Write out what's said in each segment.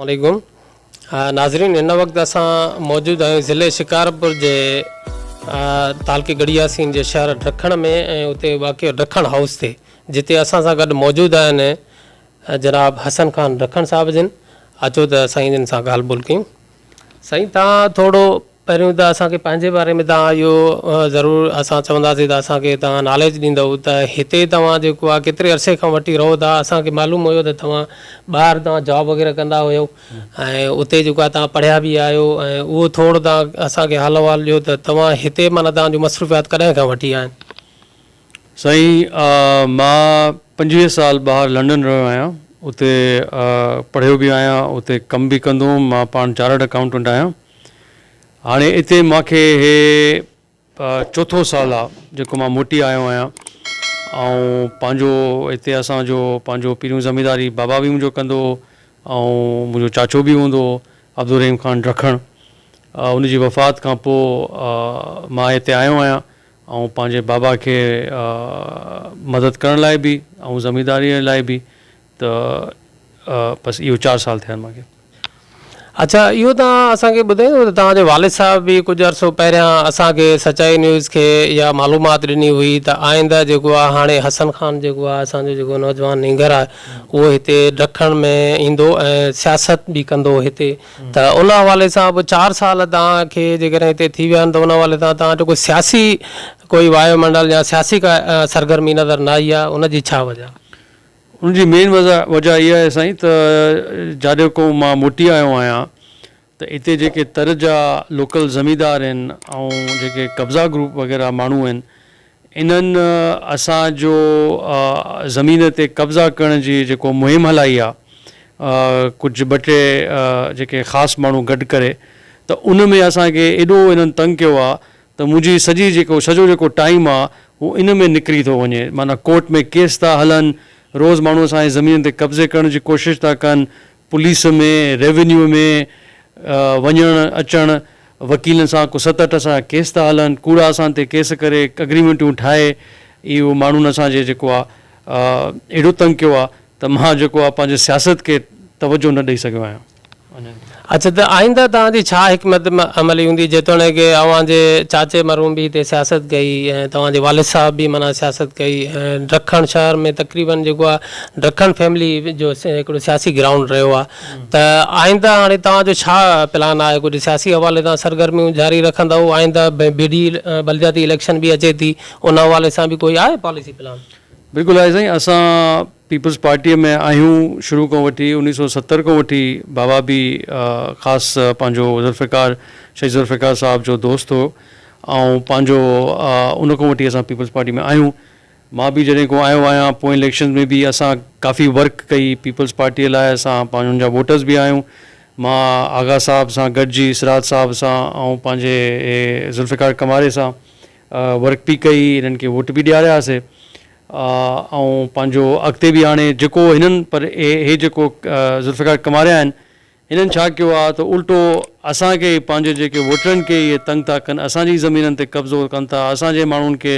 عليڪم ناظرين هن وقت اسان موجود آهيون ضلعي شڪارپور جي تعلقي ڳڙهي ياسين جي شهر ڊکڻ ۾ ۽ اتي واقع ڊکڻ هائوس تي جتي اسان سان گڏ موجود آهن جناب حسن خان ڊکڻ صاحب جن اچو ته سائين جن سان ڳالهه ٻولهه ڪيون سائين تان ٿورو پهريون ته اسان کي پنهنجي باري ۾ تان اهو ضرور اسان چونداسين ته اسان کي تان ناليج ڏيندؤ ته هتي توهان جيڪو آ ڪيتري عرصي کان وٺي رهو ٿا اسان کي معلوم هيو ته توهان ٻاهر توهان جاب وغيره ڪندا هيو ۽ اتي جيڪو آ توهان پڙهيا به آهيو ۽ اهو ٿورو توهان اسان کي حال احوال ڏيو ته توهان هتي معنيٰ توهان جون مصروفيات ڪڏهن کان وٺي آهن. سائين مان پنجويهه سال ٻاهر لنڊن رهيو آهيان اتي پڙهيو به آهيان اتي ڪم به ڪندو هوم مان پاڻ چارٽرڊ اڪائونٽنٽ آهيان هاڻي اتي مان کي هي چوٿو سال آ جيڪو مان موٽي آيو آهيان ۽ پنهنجو اتي اسان جو پنهنجو پهريون زمينداري بابا به منهنجو ڪندو هو ۽ منهنجو چاچو به هوندو هو عبدالرحيم خان رکڻ ان جي وفات کان پوء مان هتي آيو آهيان آئون پنهنجي بابا کي مدد ڪرڻ لاء به آئون زمينداري لاء به ته بس اهو چار سال ٿيا آهن مانکي. اڇا اهو توهان اسان کي ٻڌائيندو ته توهان جي والد صاحب به ڪجهه عرصو پهريان اسان کي سچائي نيوز کي اها معلومات ڏني هئي ته آئنده جيڪو آهي هاڻي حسن خان جيڪو آهي اسان جو جيڪو نوجوان نينگر آهي اهو هتي ڊکڻ ۾ ايندو ۽ سياست به ڪندو هتي ته ان حوالي سان به چار سال توهان کي جيڪڏهن هتي ٿي ويا آهن ته ان حوالي سان توهان جو ڪو سياسي ڪوئي وايو منڊل يا سياسي ڪا سرگرمي نظر نه آئي آهي ان جي ڇا وجه؟ ان جي مين وضع وجه اها آهي سائين ته جڏهن کان مان موٽي آيو آهيان ته هتي جيڪي تر جا لوڪل زميندار آهن ۽ جيڪي قبضا گروپ وغيره ماڻهو آهن انهن اسان جو زمين تي قبضا ڪرڻ جي جيڪو مهم هلائي آ ڪجهه ٻه ٽي جيڪي خاص ماڻهو گڏ ڪري ته ان ۾ اسان کي ايڏو انهن تنگ ڪيو آ ته منهنجي سڄي جيڪو سڄو جيڪو ٽائيم آ هو ان ۾ نڪري ٿو وڃي معنيٰ ڪورٽ ۾ ڪيس ٿا هلن روز ماڻهو اسان جي زمين تي قبضي ڪرڻ جي ڪوشش ٿا ڪن پوليس ۾ ريونيو ۾ وڃڻ اچڻ وڪيلن سان ڪو ست اٺ اسان جا ڪيس ٿا هلن ڪوڙا اسان تي ڪيس ڪري اگريمينٽون ٺاهي اهو ماڻهن اسان جي جيڪو آ اهڙو تنگ ڪيو آ ته مان جيڪو آ پنهنجي سياست کي توجهه نه ڏئي سگهيو آهيان. اڇا ته آئنده توهان جي ڇا حڪمت عملي هوندي جيتوڻيڪ اوهان جي چاچي مرحوم به هتي سياست ڪئي ۽ توهان جي والد صاحب به معنيٰ سياست ڪئي ۽ ڊکڻ شهر ۾ تقريبن جيڪو آ ڊکڻ فيملي جو هڪڙو سياسي گرائونڊ رهيو آهي ته آئنده هاڻي توهان جو ڇا پلان آهي ڪجهه سياسي حوالي سان سرگرميون جاري رکندؤ آئنده ٻيڙي بلدياتي اليڪشن به اچي ٿي ان حوالي سان به ڪوئي آهي پاليسي پلان. بلڪل آهي سائين اسان پيپلز پارٽي ۾ آهيون شروع کان وٺي انيس سو ستر کان وٺي بابا به خاص پنهنجو ذوالفقار شهيد ذوالفقار صاحب جو دوست هو ۽ پنهنجو ان کان وٺي اسان پيپلز پارٽي ۾ آهيون مان به جڏهن کان آيو آهيان پوئين اليڪشنز ۾ به اسان ڪافي ورڪ ڪئي پيپلز پارٽي لاء اسان پنهنجن جا ووٽرز به آهيون مان آغا صاحب سان گڏجي سراج صاحب سان ۽ پنهنجي ذوالفقار ڪماري سان ورڪ به ڪئي انهن کي ووٽ به ڏياريا سي ۽ پنهنجو اڳتي به هاڻي جيڪو هنن پر هي جيڪو ذوالفقار ڪماريا آهن هنن ڇا ڪيو آهي ته الٽو اسان کي ئي پنهنجي جيڪي ووٽرن کي اهي تنگ ٿا ڪن اسان جي ئي زمينن تي قبضو ڪن ٿا اسان جي ماڻهن کي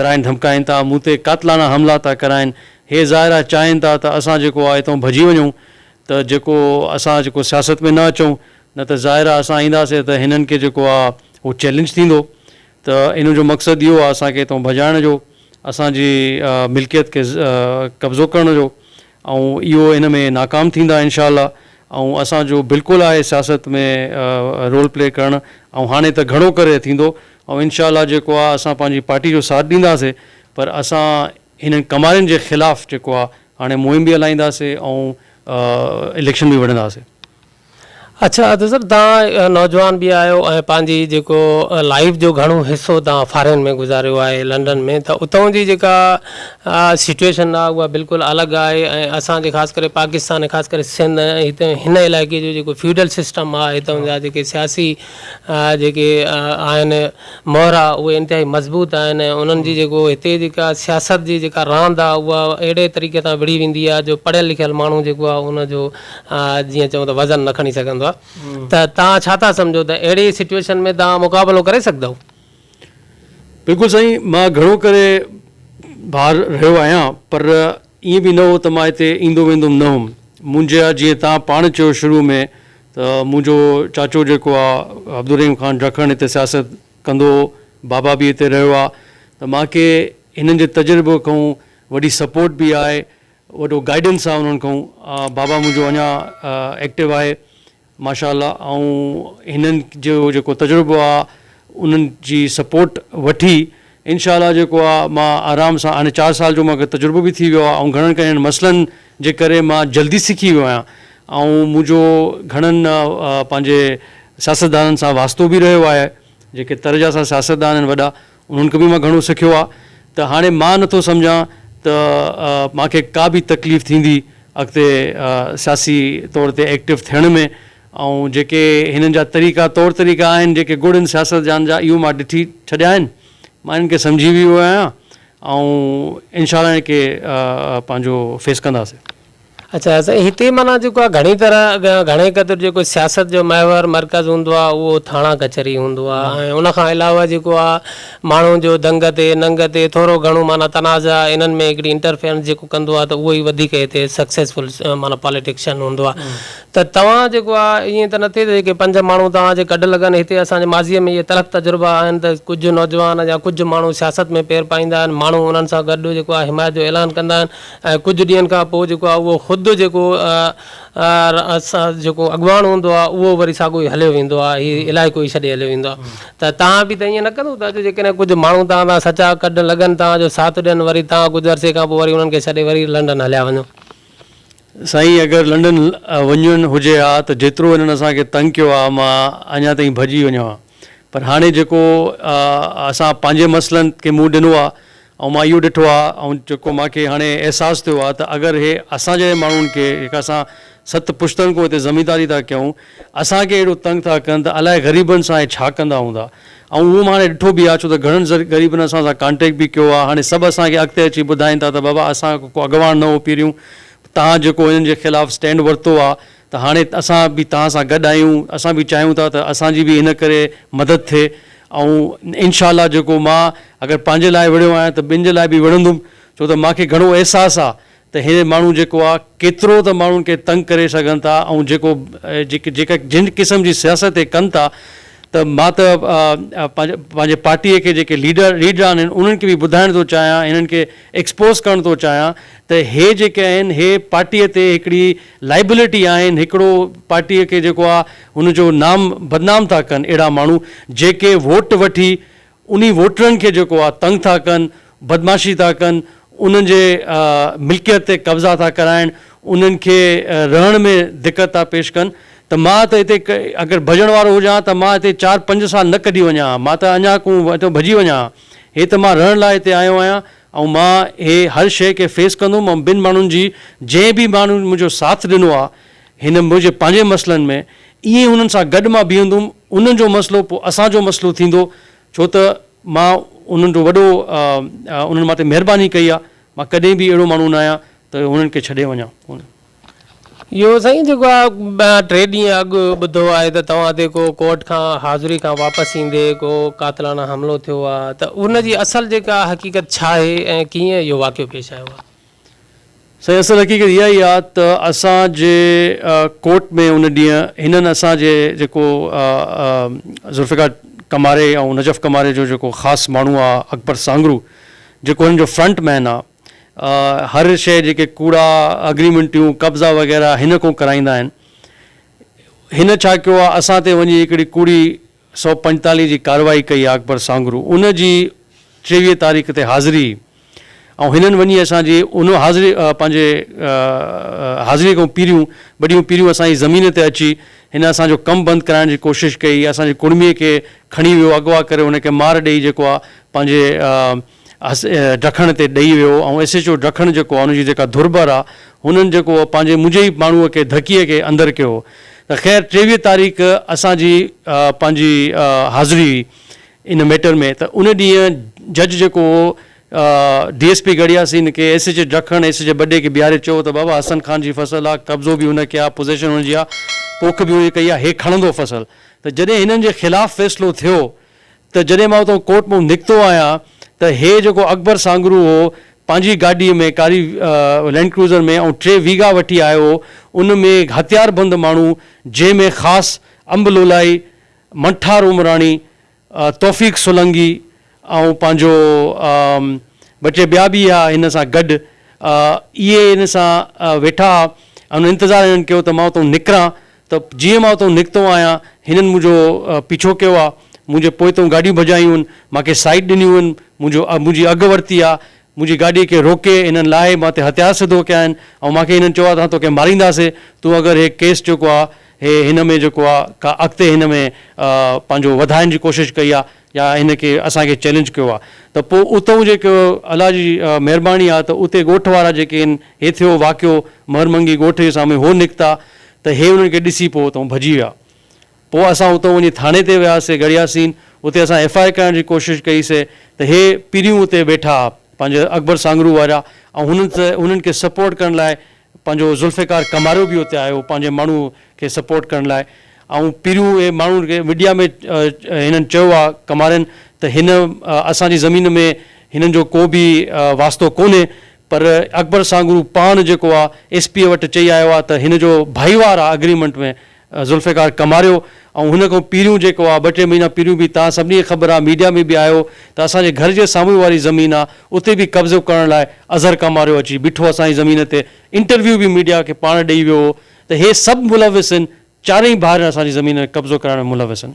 ڌرائين ڌمڪائين ٿا مون تي قاتلاڻا حملا ٿا ڪرائين هي ظاهر آهي چاهين ٿا ته اسان جيڪو آهي هتئون ڀڄي وڃون ته جيڪو اسان جيڪو سياست ۾ نه اچون نه ته ظاهر آهي اسان اينداسين ته هنن کي جيڪو آهي اهو چئلينج ٿيندو ته ان جو مقصد اهو آهي اسان کي هتئون ڀڄائڻ جو اسان جي ملڪيت کي قبضو ڪرڻ جو ۽ اهو ان ۾ ناڪام ٿيندا انشاء الله ۽ اسان جو بلڪل آهي سياست ۾ رول پلي ڪرڻ ۽ هاڻي ته گهڻو ڪري ٿيندو ۽ انشاء الله جيڪو آهي اسان پنهنجي پارٽي جو ساٿ ڏينداسي پر اسان هنن ڪمارين جي خلاف جيڪو آهي هاڻي مهم به هلائينداسي ۽ اليڪشن به وڙهنداسي. اڇا ادي صاحب توهان نوجوان به آهيو ۽ پنهنجي جيڪو لائيف جو گهڻو حصو توهان فارين ۾ گذاريو آهي لنڊن ۾ ته اتئون جي جيڪا سچوئيشن آهي اها بلڪل الڳ آهي ۽ اسان جي خاص ڪري پاڪستان خاص ڪري سنڌ ۽ هتئون هن علائقي جو جيڪو فيوڊل سسٽم آهي هتئون جا جيڪي سياسي جيڪي آهن مهرا اهي انتهائي مضبوط آهن ۽ انهن جي جيڪو هتي جيڪا سياست جي جيڪا راند آهي اها اهڙي طريقي سان وڙهي ويندي آهي جو پڙهيل لکيل ماڻهو جيڪو آهي ان جو جيئن چئون ته وزن نه کڻي سگهندو آهي ته توهان ڇا ٿا سمجهو ته اهڙي سچويشن ۾ توهان مقابلو ڪري سگهندؤ؟ بلڪل سائين مان گهڻو ڪري ٻاهر رهيو آهيان پر ائين به نه هو ته مان هتي ايندو ويندوم نه هوم منهنجا جيئن توهان پاڻ چيو شروع ۾ ته منهنجو چاچو جيڪو آهي عبدالرحيم خان ڊکڻ هتي سياست ڪندو هو بابا به هتي رهيو آهي ته مانکي هنن جي تجربي کان وڏي سپورٽ به آهي وڏو گائيڊنس آ انهن کئون بابا منهنجو اڃا ايڪٽو آهي ماشاء الله آئون هنن جو جيڪو تجربو آ انهن جي سپورٽ وٺي انشاء الله جيڪو آ مان آرام سان هاڻي چار سال جو مان کي تجربو به ٿي ويو آ آئون گهڻن ڪرين مسئلن جي ڪري مان جلدي سکي ويو آهيان آئون منهنجو گهڻن پنهنجي سياستدانن سان واسطو به رهيو آهي جيڪي تر جا اسان سياستدان آهن وڏا انهن کان به مان گهڻو سکيو آ ته هاڻي مان نه ٿو سمجهان ته مان کي ڪا به تڪليف ٿيندي اڳتي سياسي طور تي ايڪٽو ٿيڻ ۾ ۽ جيڪي هنن جا طريقا طور طريقا آهن جيڪي گڙ ان سياستدان جا اهو مان ڏٺي ڇڏيا آهن مان انهن کي سمجهي ويو آهيان ۽ انشاء الله انهن کي پنهنجو فيس ڪنداسين. اچا سائين هتي معنيٰ جيڪو آ گهڻي طرح گهڻي قدر جيڪو سياست جو محور مرڪز هوندو آ اهو ٿاڻا ڪچهري هوندو آ ۽ ان کان علاوه جيڪو آ ماڻهو جو دنگ تي ننگ تي ٿورو گهڻو معنيٰ تنازع انهن ۾ هڪڙي انٽرفيرنس جيڪو ڪندو آ ته اهو ئي وڌيڪ هتي سڪسيسفل معنيٰ پاليٽڪشن هوندو آ ته توهان جيڪو آ ائين ته نه ٿئي ته جيڪي پنج ماڻهو توهان جي گڏ لڳن هتي اسان جي ماضي ۾ اهي تلخ تجربا آهن ته ڪجهه نوجوان يا ڪجهه ماڻهو سياست ۾ پير پائيندا آهن ماڻهو انهن سان گڏ جيڪو آ حمايت جو اعلان ڪندا آهن ۽ ڪجهه ڏينهن کان پوء جيڪو آهي اهو خود جيڪو جيڪو اڳواڻ هوندو آهي اهو وري ساڳو ئي هليو ويندو آهي هي علائقو ئي ڇڏي هليو ويندو آهي ته توهان به ته ائين نه ڪندو ته اڄ جيڪڏهن ڪجهه ماڻهو توهان تان سچا ڪڍ لڳن توهان جو ساٿ ڏين وري توهان ڪجهه عرصي کان پوء وري انهن کي ڇڏي وري لنڊن هليا وڃو. سائين اگر لنڊن وڃڻ هجي ها ته جيترو هنن اسان کي تنگ ڪيو آهي مان اڃا تائين ڀڄي وڃان ها پر هاڻي جيڪو اسان پنهنجي مسئلن کي منهن ڏنو آهي ۽ مان اهو ڏٺو آهي ۽ جيڪو مان کي هاڻي احساس ٿيو آهي ته اگر اهي اسان جهڙن ماڻهن کي جيڪي اسان ست پشتن کان هتي زمينداري ٿا ڪيون اسان کي اهڙو تنگ ٿا ڪن ته الاء غريبن سان اهي ڇا ڪندا هوندا ۽ اهو مان هاڻي ڏٺو به آهي ڇو ته گهڻن غريبن اسان سان ڪانٽيڪٽ به ڪيو آهي هاڻي سڀ اسان کي اڳتي اچي ٻڌائين ٿا ته بابا اسان ڪو اڳواڻ نه هو پهريون تهان جيڪو هنن جي خلاف اسٽينڊ ورتو آهي ته هاڻي اسان به توهان سان گڏ آهيون، اسان به چاهيون ٿا ته اسان جي به ان ڪري مدد ٿئي ۽ انشاء الله جيڪو مان اگر پنهنجي لاء وڙهيو آهيان ته ٻين جي لاء به وڙهندم ڇو ته مان کي گهڻو احساس آ ته هي ماڻهو جيڪو آ ڪيترو ته ماڻهن کي تنگ ڪري سگهن ٿا ۽ جيڪو جيڪا جن قسم جي سياست هي ڪن ٿا ته مان ته پنهنجي پارٽي کي جيڪي ليڊر ليڊران آهن انهن کي به ٻڌائڻ ٿو چاهيان هنن کي ايڪسپوز ڪرڻ ٿو چاهيان ته هي جيڪي آهن هي پارٽي تي هڪڙي لائبلٽي آهن هڪڙو پارٽي کي جيڪو آ ان جو نام بدنام ٿا ڪن اهڙا ماڻهو جيڪي ووٽ وٺي انهي ووٽرن کي جيڪو آ تنگ ٿا ڪن بدمعاشي ٿا ڪن انهن جي ملڪيت تي قبضا ٿا ڪرائن انهن کي رهڻ ۾ دقت ٿا پيش ڪن ته مان ته هتي اگر ڀڄڻ وارو هجان ها ته مان هتي چار پنج سال نه ڪڍي وڃان ها مان ته اڃا ڪون هتو ڀڄي وڃان ها هي ته مان رهڻ لاء هتي آيو آهيان ۽ مان هي هر شيء کي فيس ڪندم ۽ ٻن ماڻهن جي جنهن به ماڻهو منهنجو ساٿ ڏنو آهي هن منهنجي پنهنجي مسئلن ۾ ائين انهن سان گڏ مان بيهندم انهن جو مسئلو پوء اسان جو مسئلو ٿيندو ڇو ته مان انهن جو وڏو انهن مان تي مهرباني ڪئي آهي مان ڪڏهن به اهڙو ماڻهو نه آهيان ته هنن کي ڇڏي وڃان. اهو سائين جيڪو آ ٽي ڏينهن اڳ ٻڌو آهي ته توهان تي ڪو ڪورٽ کان حاضري کان واپس ايندي ڪو قاتلانا حملو ٿيو آ ته ان جي اصل جيڪا حقيقت ڇا آهي ۽ ڪيئن اهو واقعو پيش آيو آ؟ سائين اصل حقيقت اها ئي آ ته اسان جي ڪورٽ ۾ ان ڏينهن هنن اسان جي جيڪو ذوالفقار ڪماري ۽ نجف ڪماري جو جيڪو خاص ماڻهو آ اڪبر سانگرو جيڪو هنن جو فرنٽ مين آ، هر شيء جيڪي ڪوڙا اگريمنٽيون قبضا وغيره هن کون ڪرائيندا آهن هن ڇا ڪيو آ اسان تي وڃي هڪڙي ڪوڙي سؤ پنجتاليهه جي ڪارروائي ڪئي آ اڪبر سانگرو ان جي ٽيويهه تاريخ تي حاضري ۽ هنن وڃي اسان جي ان حاضري پنهنجي حاضري کون پيريون ٻڏيون پيريون اسان جي زمين تي اچي هن اسان جو ڪم بند ڪرائڻ جي ڪوشش ڪئي اسان جي ڪڙمي کي کڻي ويو اغوا ڪري ان کي مار ڏئي جيڪو آ پنهنجي ڊکڻ تي ڏئي ويو ۽ ايس ايڇ او ڊکڻ جيڪو آ ان جي جيڪا ڌرٻر آ هنن جيڪو پنهنجي منهنجي ئي ماڻهوء کي ڌڪيء کي اندر ڪيو ته خير ٽيويهه تاريخ اسان جي پنهنجي حاضري هئي ان ميٽر ۾ ته ان ڏينهن جج جيڪو هو ڊي ايس پي گڙهياسين کي S H O Dakhan S H O ٻڏي کي بيهاري چيو ته بابا حسن خان جي فصل آ قبضو به هن کي آ پوزيشن هن جي آ پوک به هن جي ڪئي آ هي کڻندو فصل ته جڏهن هنن جي خلاف فيصلو ٿيو ته جڏهن مان اتان ڪورٽ مان نڪتو آهيان ته هي جيڪو اڪبر سانگرو هو پنهنجي گاڏي ۾ ڪاري لينڊ ڪروزر ۾ ۽ ٽي ويگا وٺي آيو هو ان ۾ هٿيار بند ماڻهو جنهن ۾ خاص انب لولائي، منٺار عمراڻي، توفيق سولنگي ۽ پنهنجو ٻه ٽي ٻيا به هيا هن سان گڏ اهي هن سان ويٺا هئا انتظار هنن ڪيو ته مان اتان نڪران ته جيئن مان اتئون نڪتو آهيان، هنن منهنجو پيڇو ڪيو آهي، منهنجي پوئتئون گاڏيون ڀڄايون هن، مان کي سائيڊ ڏنيون هن، منهنجو منهنجي اگهه ورتي آهي، منهنجي گاڏيء کي روڪي، هنن لاهي مان تي هٿيار سڌو ڪيا آهن، ۽ مان کي هنن چيو آهي ته اسان توکي مارينداسين، تون اگر هي ڪيس جيڪو آهي، هي هن ۾ جيڪو آهي ڪا اڳتي هن ۾ پنهنجو وڌائڻ جي ڪوشش ڪئي آهي، يا هن کي اسان کي چئلينج ڪيو آ ته پو اتئون جيڪو الله جي مهرباني آ ته اتي ڳوٺ وارا جيڪي هن هي ٿيو واقعو مهر منگي ڳوٺ جي سامهون هو نڪتا ته هي انهن کي ڏسي پو اتئون ڀڄي ويا پو اسان اتئون وڃي ٿاڻي تي وياسي گڙياسين اتي اسان ايف آء ڪرڻ جي ڪوشش ڪئي سي ته هي پيريون اتي ويٺا آ پنهنجي اڪبر سانگرو وارا ۽ هنن هنن کي سپورٽ ڪرڻ لاء پنهنجو ذوالفقار ڪماريو به اتي آيو پنهنجي ماڻهو کي سپورٽ ڪرڻ لاء ۽ پهريون اهي ماڻهو کي ميڊيا ۾ هنن چيو آ ڪمارين ته هن اسان جي زمين ۾ هنن جو ڪو به واسطو ڪونهي پر اڪبر سانگرو پاڻ جيڪو آ ايس پي وٽ چئي آيو آ ته هن جو ڀائيوار آ اگريمنٽ ۾ ذوالفقار ڪماريو ۽ هن کان پهريون جيڪو آ ٻه ٽي مهينا پهريون به تهان سڀني کي خبر آ ميڊيا ۾ به آيو ته اسان جي گهر جي سامهون واري زمين آ اتي به قبضو ڪرڻ لاء اظهر ڪماريو اچي بيٺو اسان جي زمين تي انٽرويو به ميڊيا کي پاڻ ڏئي ويو هو ته هي سڀ ملوث هن چارئي ڀائرن اسان جي زمين ۾ قبضو ڪرائڻ ۾ ملوث هن.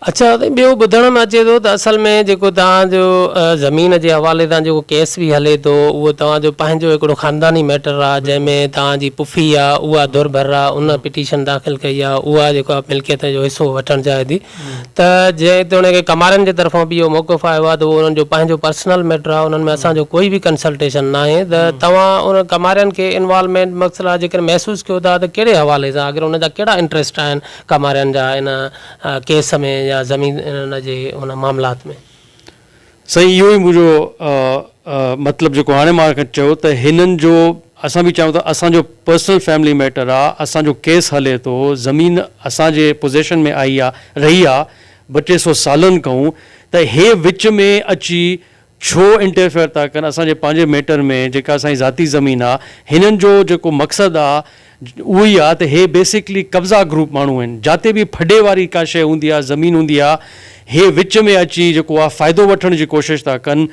اچا سائين ٻيو ٻڌڻ ۾ اچي ٿو ته اصل ۾ جيڪو توهان جو زمين جي حوالي سان جيڪو ڪيس به هلي ٿو اهو توهان جو پنهنجو هڪڙو خانداني ميٽر آهي جنهن ۾ توهان جي پڦي آ اها ڌر ڀر آ ان پٽيشن داخل ڪئي آ اها جيڪو آ ملڪيت جو حصو وٺڻ چاهي ٿي ته جيتوڻيڪ ڪمارن جي طرفان به اهو موقف آيو آهي ته اهو انهن جو پنهنجو پرسنل ميٽر آهي انهن ۾ اسان جو ڪوئي به ڪنسلٽيشن ناهي ته توهان ان ڪمارين کي انوالومينٽ مقصد آ جيڪڏهن محسوس ڪيو ٿا ته ڪهڙي حوالي سان آخر ان جا ڪهڙا انٽريسٽ آهن ڌڪا مارڻ جا ان ڪيس ۾ يا زمين جي ان معاملات ۾؟ سائين اهو ئي منهنجو مطلب جيڪو هاڻي مان چيو ته هنن جو اسان به چاهيون ته اسان جو پرسنل فيملي ميٽر آ اسان جو ڪيس هلي ٿو زمين اسان جي پوزيشن ۾ آئي آ رهي آ ٻه ٽي سو سالن کئون ته هي وچ ۾ اچي ڇو انٽرفيئر ٿا ڪن اسان جي پنهنجي ميٽر ۾، جيڪا اسان جي ذاتي زمين آ، هنن جو جيڪو مقصد آ اهو ئي آ ته هي بيسڪلي قبضا گروپ ماڻهو آهن، جاتي به ڦڏي واري ڪا شيء هوندي آ، زمين هوندي آ، هي وچ ۾ اچي جيڪو آ فائدو وٺڻ جي ڪوشش ٿا ڪن،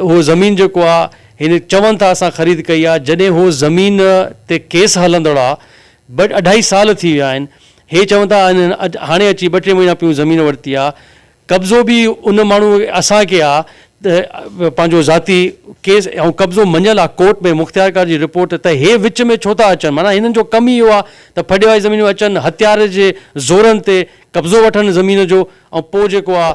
اهو زمين جيڪو آ هن چون ٿا اسان خريد ڪئي آ، جڏهن هو زمين تي ڪيس هلندڙ آ، ٻه اڍائي سال ٿي ويا آهن، هي چون ٿا هنن هاڻي اچي ٻه ٽي مهينا پيون زمين ورتي آ، قبضو به ان ماڻهو اسان کي آ ته پنهنجو ذاتي ڪيس ۽ قبضو مڃيل آ ڪورٽ ۾ مختيارڪار جي رپورٽ ته هي وچ ۾ ڇو ٿا اچن معنيٰ هنن جو ڪم ئي اهو آ ته ڦڏي واري زمين ۾ اچن هٿيار جي زورن تي قبضو وٺن زمين جو ۽ پوء جيڪو آ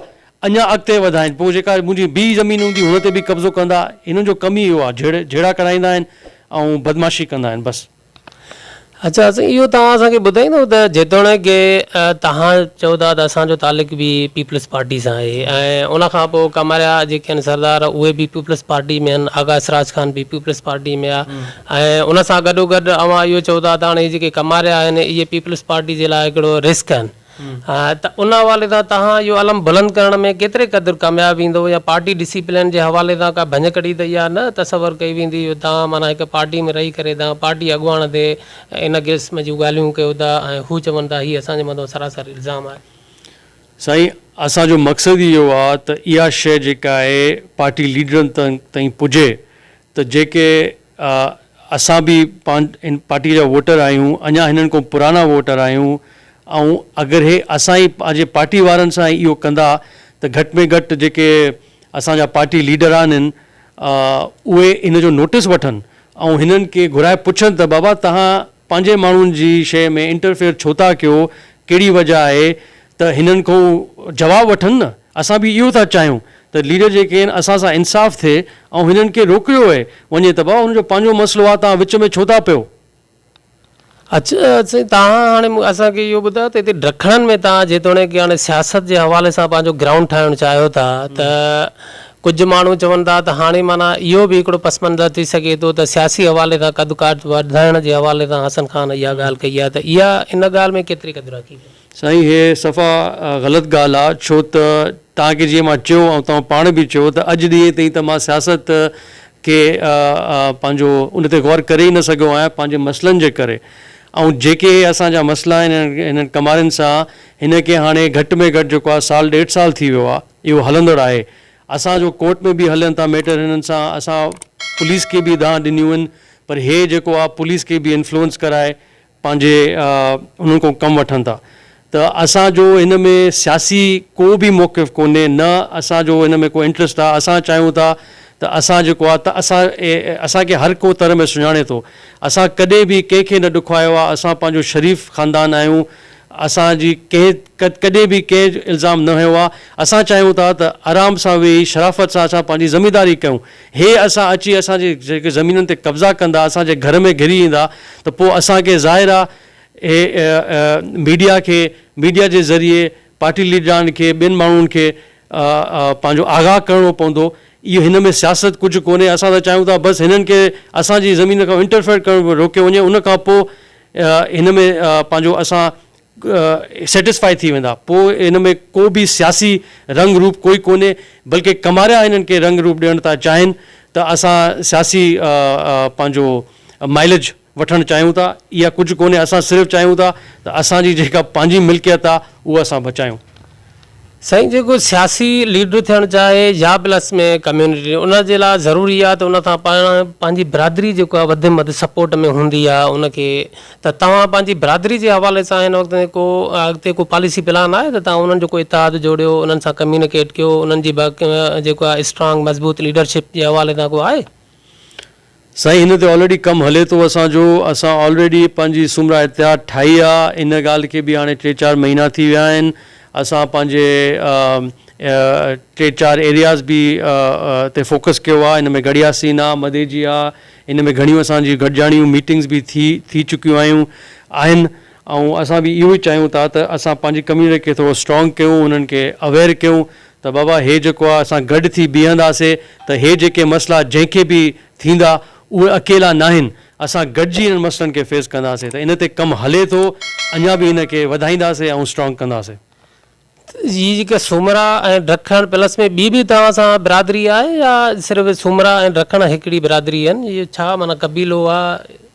اڃان اڳتي وڌائين پوء جيڪا منهنجي ٻي زمين هوندي هن تي به قبضو ڪندا هنن جو ڪم ئي اهو آ جهيڙا ڪرائيندا آهن ۽ بدمعاشي ڪندا آهن بس. اچا سائين اهو توهان اسان کي ٻڌائيندو ته جيتوڻيڪ ڪي توهان چئو ٿا ته اسان جو تعلق به پيپلز پارٽي سان آهي ۽ ان کان پوء ڪماريا جيڪي آهن سردار اهي به پيپلز پارٽي ۾ آهن آغا اسراج خان به پيپلز پارٽي ۾ آهي ۽ ان سان گڏو گڏ اوهان اهو چئو ٿا ته هاڻي هي جيڪي ڪماريا آهن اهي پيپلز پارٽي جي لاء هڪڙو رسڪ آهن ته ان حوالي سان توهان اهو علم بلند ڪرڻ ۾ ڪيتري قدر ڪامياب ايندو يا پارٽي ڊسيپلين جي حوالي سان ڪا ڀڃڪڙي ته اها نه تصور ڪئي ويندي جو توهان معنيٰ هڪ پارٽي ۾ رهي ڪري توهان پارٽي اڳواڻ تي ان قسم جون ڳالهيون ڪيو ٿا ۽ هو چون ٿا هي اسان جي مٿان سراسر الزام آهي. سائين اسان جو مقصد ئي اهو آهي ته اها شيء جيڪا آهي پارٽي ليڊرن تائين پڄي ته جيڪي اسان به ان پارٽيء جا ووٽر آهيون، اڃا هنن کان پراڻا ووٽر آهيون، ۽ اگر هي اسان ئي پنهنجي پارٽي وارن سان ئي اهو ڪندا ته گهٽ ۾ گهٽ جيڪي اسان جا پارٽي ليڊر آهن اهي ان جو نوٽيس وٺن ۽ هنن کي گهرائي پڇن ته بابا توهان پنهنجي ماڻهن جي شيء ۾ انٽرفيئر ڇو ٿا ڪيو، ڪهڙي وجهه آهي ته هنن کان جواب وٺن نه. اسان به اهو ٿا چاهيون ته ليڊر جيڪي آهن اسان سان انصاف ٿئي ۽ هنن کي روڪيو وئي وڃي ته بابا هن جو پنهنجو مسئلو آهي توهان وچ ۾ ڇو ٿا پيو. اچا سائين تهان هاڻي اسان کي اهو ٻڌايو ته هتي ڊکڻن ۾ تهان جيتوڻيڪ هاڻي سياست جي حوالي سان پنهنجو گرائونڊ ٺاهڻ چاهيو ٿا ته ڪجهه ماڻهو چون ٿا ته هاڻي معنيٰ اهو به هڪڙو پس منظر ٿي سگهي ٿو ته سياسي حوالي سان قد قاد وڌائڻ جي حوالي سان حسن خان اها ڳالهه ڪئي آهي ته اها ان ڳالهه ۾ ڪيتري قدر حقيقت آهي. سائين هي صفا غلط ڳالهه آ ڇو ته توهان کي جيئن مان چيو ۽ توهان پاڻ به چيو ته اڄ ڏينهن تائين ته مان سياست کي پنهنجو ان تي غور ڪري ئي نه سگهيو آهيان پنهنجي مسئلن جي ڪري ۽ جيڪي هي اسان جا مسئلا آهن هنن ڪمارين سان هن کي هاڻي گهٽ ۾ گهٽ جيڪو آ سال ڏيڍ سال ٿي ويو آ اهو هلندڙ آهي اسان جو ڪورٽ ۾ به هلن ٿا ميٽر هنن سان اسان پوليس کي به دانهن ڏنيون آهن پر هي جيڪو آ پوليس کي به انفلوئنس ڪرائي پنهنجي انهن کان ڪم وٺن ٿا ته اسان جو ان ۾ سياسي ڪو به موقف ڪونهي نه اسان جو ان ۾ ڪو انٽرسٽ آ اسان چاهيون ٿا ته اسان جيڪو آ ته اسان اسان کي هر ڪو تر ۾ سڃاڻي ٿو اسان ڪڏهن به ڪنهن کي نه ڏکوايو آ اسان پنهنجو شريف خاندان آهيون اسان جي ڪنهن ڪڏهن به ڪنهن الزام نه هنيو آ اسان چاهيون ٿا ته آرام سان ويهي شرافت سان اسان پنهنجي زمينداري ڪيون. هي اسان اچي اسان جي جيڪي زمينن تي قبضا ڪندا اسان جي گهر ۾ گهري ايندا ته پو اسان کي ظاهر آ هي ميڊيا کي ميڊيا جي ذريعي پارٽي ليڊران کي ٻين ماڻهن کي پنهنجو آگاهه ڪرڻو پوندو اهو هن ۾ سياست ڪجهه ڪونهي اسان ته چاهيون ٿا بس هنن کي اسان جي زمين کان انٽرفيئر ڪرڻ روڪيو وڃي ان کان پو هن ۾ پنهنجو اسان سيٽسفائي ٿي ويندا پوء ان ۾ ڪو به سياسي رنگ روپ ڪوئي ڪونهي بلڪه ڪماريا انهن کي رنگ روپ ڏيڻ ٿا چاهين ته اسان سياسي پنهنجو مائليج وٺڻ چاهيون ٿا اها ڪجهه ڪونهي اسان صرف چاهيون ٿا ته اسان جي جيڪا پنهنجي ملڪيت آهي اها اسان بچايون. سائين جيڪو سياسي ليڊر ٿيڻ چاهي يا پلس ۾ ڪميونٽي ان جي لاء ضروري آهي ته ان سان پاڻ پنهنجي برادري جيڪو آهي وڌ مڌ سپورٽ ۾ هوندي آهي ان کي ته توهان پنهنجي برادري جي حوالي سان هن وقت ۾ ڪو اڳتي ڪو پاليسي پلان آهي ته توهان انهن جو ڪو اتحاد جوڙيو انهن سان ڪميونيڪيٽ ڪيو انهن جي جيڪو آهي اسٽرانگ مضبوط ليڊرشپ جي حوالي سان ڪو آهي سائين هن تي آلريڊي ڪم هلي ٿو اسان جو اسان آلريڊي پنهنجي سومرا اتحاد ٺاهي آ ان ڳالهه کي به هاڻي ٽي چار مهينا ٿي ويا آهن اسان پنهنجي ٽي چار ايرياز به تي فوڪس ڪيو آ ان ۾ گڙهياسين آ مديجي آ ان ۾ گهڻيون اسان جي گڏجاڻيون ميٽنگز به ٿي ٿي چڪيون آهيون آهن ۽ اسان به اهو ئي چاهيون ٿا ته اسان پنهنجي ڪميونٽي کي ٿورو اسٽرانگ ڪيون انهن کي اويئر ڪيون ته بابا هي جيڪو آ اسان گڏ ٿي بيهنداسي ته هي جيڪي مسئلا جنهن کي به ٿيندا اهي اڪيلا ناهن اسان گڏجي انهن مسئلن کي فيس ڪنداسي ته ان تي ڪم هلي ٿو اڃا به ان کي وڌائينداسي ۽ اسٽرانگ ڪنداسي. هي جيڪي سومرا ۽ ڊکڻ پلس ۾ ٻي به توهان سان برادري آهي يا صرف سومرا ۽ ڊکڻ هڪڙي برادري آهن اهي ڇا معنيٰ قبيلو آ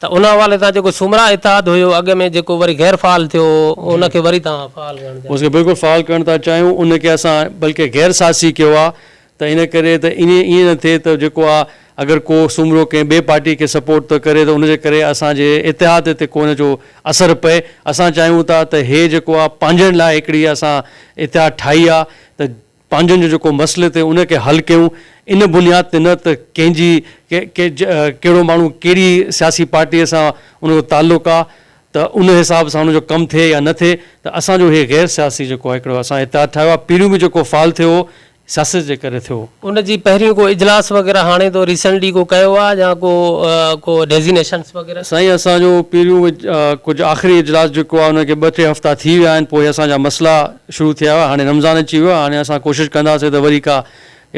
ته ان حوالي سان جيڪو سومرا اتحاد هيو اڳ ۾ جيڪو وري غير فعال ٿيو هو ان کي وري توهان فعال ڪرڻ چاهيو ٿا. اس کي بلڪل فعال ڪرڻ ٿا چاهيون ان کي اسان بلڪه غير ساسي ڪيو آ ته ان ڪري ته ان ائين نه ٿئي ته جيڪو آ اگر ڪو سومرو ڪنهن ٻي پارٽي کي سپورٽ ٿو ڪري ته ان جي ڪري اسان جي اتحاد تي ڪو ان جو اثر پئي اسان چاهيون ٿا ته هي جيڪو آ پنهنجن لاء هڪڙي اسان اتحاد ٺاهي آ ته پنهنجن جو جيڪو مسئلي تي ان کي حل ڪيون ان بنياد تي نه ته ڪنهن جي ڪهڙو ماڻهو ڪهڙي سياسي پارٽي سان ان جو تعلق آ ته ان حساب سان ان جو ڪم ٿئي يا نه ٿئي ته اسان جو هي غير سياسي جيڪو آ هڪڙو اسان اتحاد ٺاهيو آ پهريون به جيڪو فال ٿيو هو سياست جي ڪري ٿيو هو. ان جي پهريون ڪو اجلاس وغيره هاڻي تو ريسنٽلي ڪو ڪيو آ يا ڪو ڪو ڊيزينيشنس وغيره. سائين اسان جو پهريون ڪجهه آخري اجلاس جيڪو آ ان کي ٻه ٽي هفتا ٿي ويا آهن پوء اسان جا مسئلا شروع ٿيا هئا هاڻي رمضان اچي ويو آهي هاڻي اسان ڪوشش ڪنداسين ته وري ڪا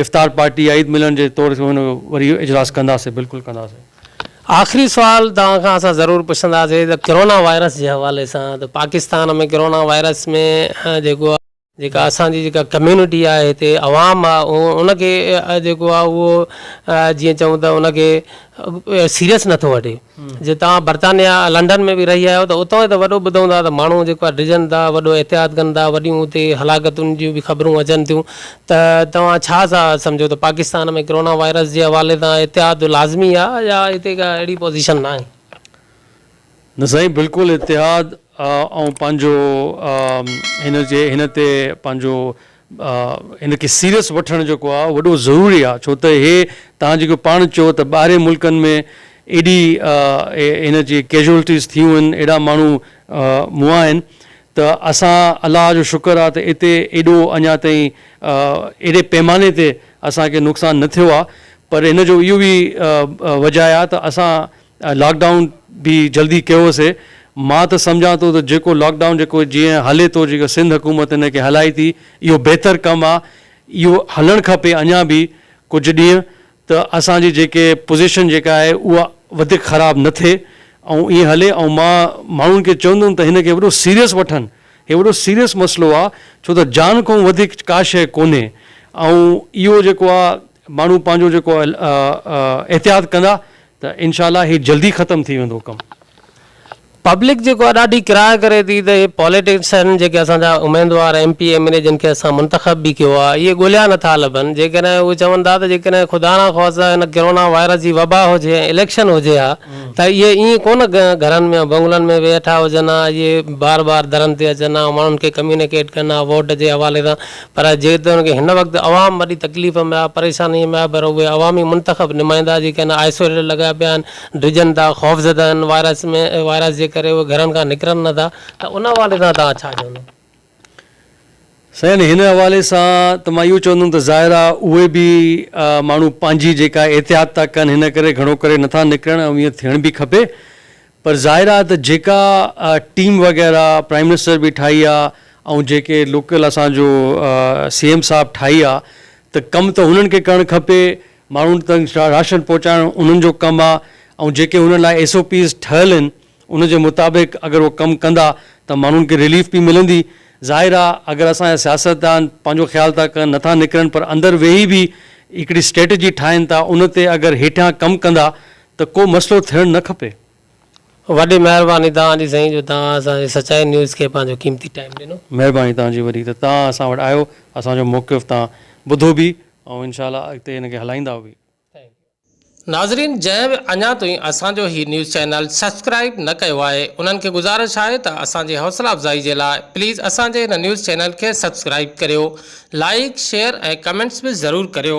افطار پارٽي يا عيد ملن جي طور تي ان جو وري اجلاس ڪنداسين بلڪل ڪنداسين. آخري سوال توهان کان اسان ضرور پڇنداسين ته ڪرونا وائرس جي حوالي سان ته پاڪستان ۾ ڪرونا وائرس ۾ جيڪو جيڪا اسان جي جيڪا ڪميونٽي آهي هتي عوام آهي ان کي جيڪو آهي اهو جيئن چئون ته ان کي سيريس نٿو وٺي جي توهان برطانيا لنڊن ۾ به رهي آيو ته اتان جو ته وڏو ٻڌو هوندا ته ماڻهو جيڪو آهي ڊڄن ٿا وڏو احتياط ڪن ٿا وڏيون اتي هلاڪتن جون به خبرون اچن ٿيون ته توهان ڇا ٿا سمجهو ته پاڪستان ۾ ڪرونا وائرس جي حوالي سان احتياط لازمي آهي يا هتي ڪا اهڙي پوزيشن ناهي. نه سائين بلڪل اتحاد آئون پنهنجو هن جي هن تي پنهنجو هن کي سيريس وٺڻ جيڪو آ وڏو ضروري آ ڇو ته هي توهان جيڪو پاڻ چيو ته ٻاهرين ملڪن ۾ ايڏي هن جي ڪيجوئلٽيز ٿيون آهن ايڏا ماڻهو مئا آهن ته اسان الله جو شڪر آ ته اتي ايڏو اڃا تائين ايڏي پيماني تي اسان کي نقصان نه ٿيو آ پر هن جو اهو به وجهه آ ته اسان لاڪ ڊائون به جلدي ڪيوسي. مان ته سمجهان ٿو ته جيڪو لاڪ ڊائون جيڪو جيئن هلي ٿو جيڪو سنڌ حڪومت ان کي هلائي ٿي اهو بهتر ڪم آ اهو هلڻ کپي اڃان به ڪجهه ڏينهن ته اسان جي جيڪي پوزيشن جيڪا آهي اها وڌيڪ خراب نه ٿئي ۽ ائين هلي ۽ مان ماڻهن کي چوندم ته هن کي وڏو سيريس وٺن هي وڏو سيريس مسئلو آ ڇو ته جان کان وڌيڪ ڪا شيء ڪونهي ۽ اهو جيڪو آ ماڻهو پنهنجو جيڪو احتياط ڪندا ته انشاء الله هي جلدي ختم ٿي ويندو ڪم. پبلڪ جيڪو آهي ڏاڍي ڪراء ڪري ٿي ته اهي پوليٽيشن جيڪي اسان جا اميدوار M P M N A جن کي اسان منتخب به ڪيو آهي اهي ڳوليا نٿا لڀن جيڪڏهن اهي چون ٿا ته جيڪڏهن خدا نه خواستي هن ڪرونا وائرس جي وبا هجي ۽ اليڪشن هجي ها ته اهي ائين ڪونه گهرن ۾ بنگلن ۾ ويٺا هجن ها اهي بار بار درن تي اچن ها ماڻهن کي ڪميونيڪيٽ ڪن ها ووٽ جي حوالي سان پر جيتوڻيڪ هن وقت عوام وڏي تڪليف ۾ آهي، پريشانيء ۾ آهي پر اهي عوامي منتخب نمائندا جيڪي هن آئسوليٽر لڳايا پيا آهن، ڊڄن ٿا، خوفزده آهن وائرس ۾ وائرس جي ڪري اهي گهرن کان نڪرن نه ٿا. ته ان حوالي سان توهان ڇا چوندو؟ سائين هن حوالي سان ته مان اهو چوندم ته ظاهر آهي اهي به ماڻهو پنهنجي جيڪا احتياط ٿا ڪن هن ڪري گهڻو ڪري نه ٿا نڪرن ۽ ايئن ٿيڻ به کپي پر ظاهر آهي ته جيڪا ٽيم وغيره پرائيم منسٽر به ٺاهي آهي ۽ جيڪي لوڪل اسان جو سي ايم صاحب ٺاهي آهي ته ڪم ته هنن کي ڪرڻ کپي ماڻهن تائين راشن پهچائڻ انهن جو ڪم آهي ۽ جيڪي هنن لاء ايس او پيز ٺهيل آهن ان جي مطابق اگر هو ڪم ڪندا ته ماڻهن کي رليف به ملندي ظاهر آهي اگر اسان جا سياستدان پنهنجو خيال ٿا ڪن نٿا نڪرن پر اندر ويهي به هڪڙي اسٽريٽجي ٺاهين ٿا ان تي اگر هيٺيان ڪم ڪندا ته ڪو مسئلو ٿيڻ نه کپي. وڏي مهرباني توهان جي سائين جو توهان اسان جي سچائي نيوز کي پنهنجو قيمتي ٽائيم ڏنو. مهرباني توهان جي وڏي ته توهان اسان وٽ آيو اسان جو موقف توهان ٻڌو به ۽ انشاء الله اڳتي ان کي هلائيندا به. ناظرين جنهن به اڃا توهين اسان جو هي نيوز چينل سبسڪرائيب نه ڪيو آهي انهن کي گذارش آهي ته اسان جي حوصلا افزائي جي لاء پليز اسان جي هن نيوز چينل کي سبسڪرائيب ڪريو لائيڪ شيئر ۽ ڪمينٽس به ضرور ڪريو.